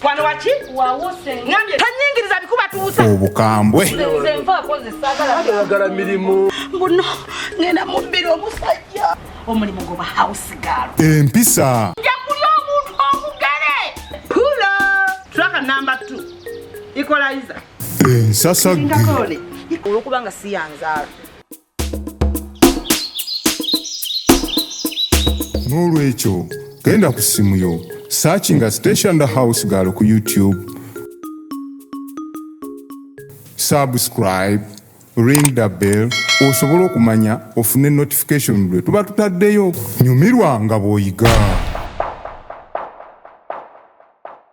Kwano waki? Wawuse. Ngambye tanyingiriza bikuba tuusa. Obukambwe. Nze nva akoze sagala. Agala milimu. Mbuno ngenda mubbira omusajja. Omulimu goba house girl. Empisa. Nja kulya omuntu omugere. Pula. Traka number 2. Equalizer. Ensasa. Ndakole. Olwokuba nga siyanzaala. n'olwekyo genda ku ssimu yo searchinga station the house girl ku youtube subscribe ring the bell osobola okumanya ofune notification lwe tuba tutaddeyo nyumirwa nga bw'oyiga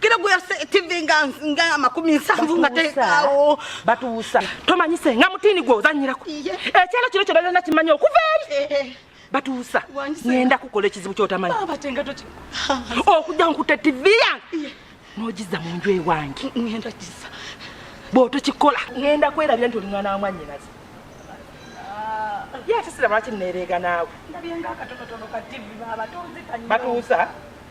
kira gwe yase tv nga nga makumi nsanvu nga tekawo batuusa tomanyi senga mutini gwe ozanyirako ekyalo kino kyona kyona kimanyi okuva eri batuusa ngenda kukola ekizibu kyotamanyi okujja nkutte tv yange nogiza mu nju ewange bwotokikola ngenda kwerabira nti oli mwana wa mwanyinazi ye ate sira lwaki nereega naawe batuusa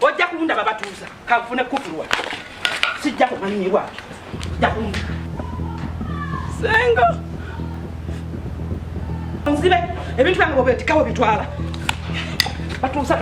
ojja kunda babatuuza kanfune kufulwa sijja kumanyibwa ojja kunda senga nzibe ebintu byange bobetikawo bitwala batuuza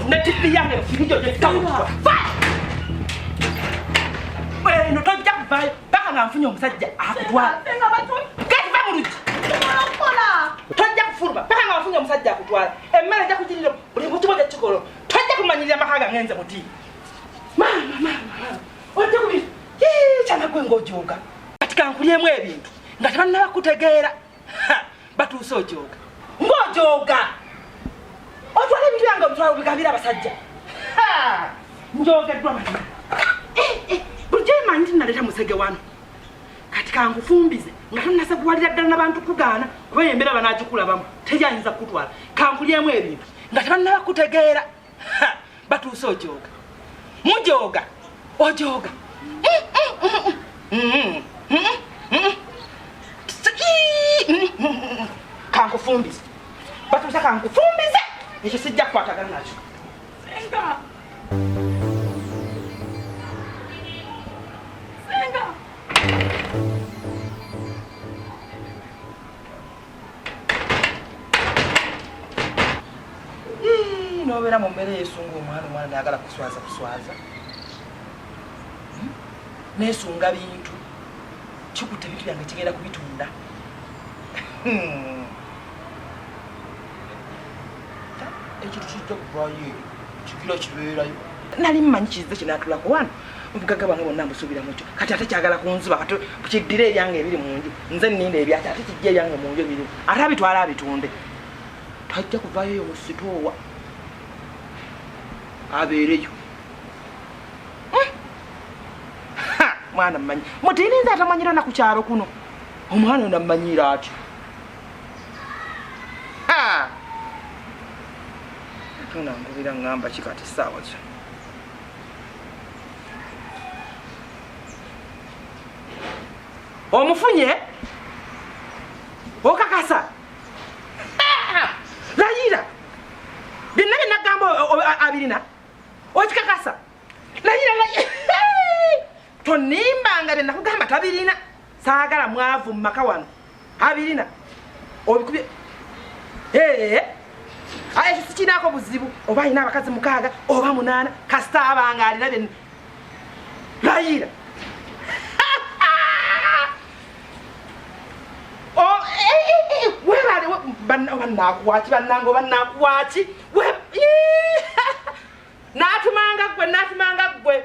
ne tivi yange firijo gyetikawo eno tojja kuvayo paka nga nfunye omusajja akutwala tojja kufuluma paka nga wafunye omusajja akutwala emmere ejja kugirira buli mukibo gyekikolo Tojja kumanyirira amaka gange nze buti. Maama maama. Ojja kubi. Yee kyana gwe ng'ojooga. Kati kankulyemu ebintu nga tebannaba kutegeera. Batuuse ojooga. Ng'ojooga. Otwala ebintu byange obitwala obigabira abasajja. Njogeddwa mazima. Eh, eh, bulijjo emanyi nti naleeta musege wano. kati kankufumbize nga tonasakuwalira ddala nabantu kugaana kuba embera banagikulabamu teri ayinza kukutwala kankulyemu ebintu nga tebannaba kutegeera batuuse ojooga mujooga ojooga kankufumbize batuuse kankufumbize ekyo sijja kukwatagana nakyo nobeera mu mbeera eyesunga omwana omwana nayagala kuswaza kuswaza hmm? nesunga bintu kikuta ebintu byange kigenda kubitunda hmm. ekintu kijja kuvaayo eyo kigila kibeerayo nali mmanyi kizze kinatulako wano obugaga bwange bonna mbusuubira mukyo kati ate kyagala kunzuba kati kiddire ebyange ebiri mu nju nze nninda ebyaki ate kijja ebyange mu nju ebiri ate abitwala abitunde tajja kuvaayo eyo mu sitoowa abeereyo hmm? mwana mmanyi mutiirinza atamanyira naku kyalo kuno omwana onammanyira atyo katonda nkubira ngamba kikati saawa kyo omufunye okakasa layira byonna byenagamba abirina okikakasa layira layira tonimbanga byenakugamba tabirina saagala mwavu mu maka wano abirina obikubye ee aye ekyo sikinaako buzibu oba alina abakazi mukaaga oba munaana kasita abanga alina bye layiira oh, eh, eh, eh, webale banakuwaki banange oba nakuwaki natumanga gwe natumanga gwe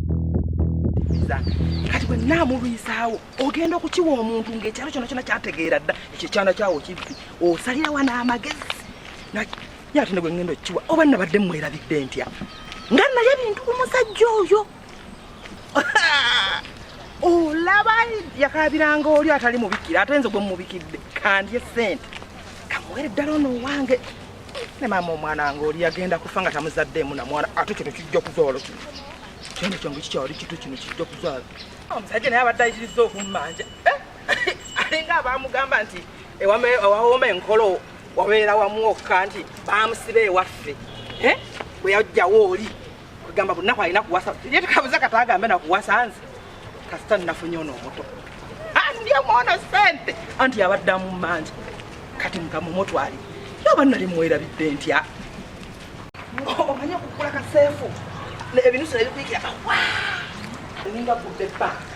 kati bwe naamulwisaawo ogenda okukiwa omuntu ng'ekyalo kyona kyona kyategeera dda ekyo ekyana kyawo kibbi osalirawo n'amagezi ye ate ne bwe ŋŋenda okukiwa oba nabadde mmwerabidde ntya nga naye bintu ku musajja oyo olaba yakaabiranga oli atali mubikira ate nze gwe mumubikidde kandye sente kamuwere ddala ono owange ne maama omwana wange oli yagenda kufa nga tamuzaddeemu na mwana ate kino kijja kuzaalo kino kyene kyange kikyali kitu kino kijja kuzaalo omusajja naye abadde ayitiriza okummanja eh? alinga abaamugamba nti ewawooma enkolo wabeera wamu okka nti baamusiba ewaffe eh? bwe yajjawo oli kwegamba bunaku alina kuwasa ye tukabuza kata agambe nakuwasa nze kasita nafunye ono omuto andi omwono sente anti yabaddamu manja kati mukama omutwali yoba nali mwerabidde ntya omanye okukula kaseefu ebinusu nebikuyikira kawa ninga gudde banka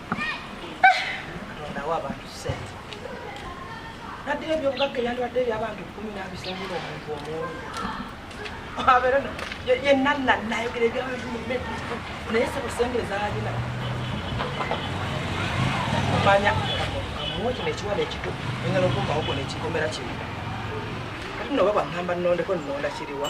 naddira ebyobugagga ebyandibadde ebyabantu kumi nabisangira omuntu omuomu abeera yenanna nayogera ebyabantu mumedu naye sebusente zalina manya amuwe kino ekiwala ekito engala okumbawo kona ekikomera kimu kati noba bwaŋamba nnondeko nnonda kiriwa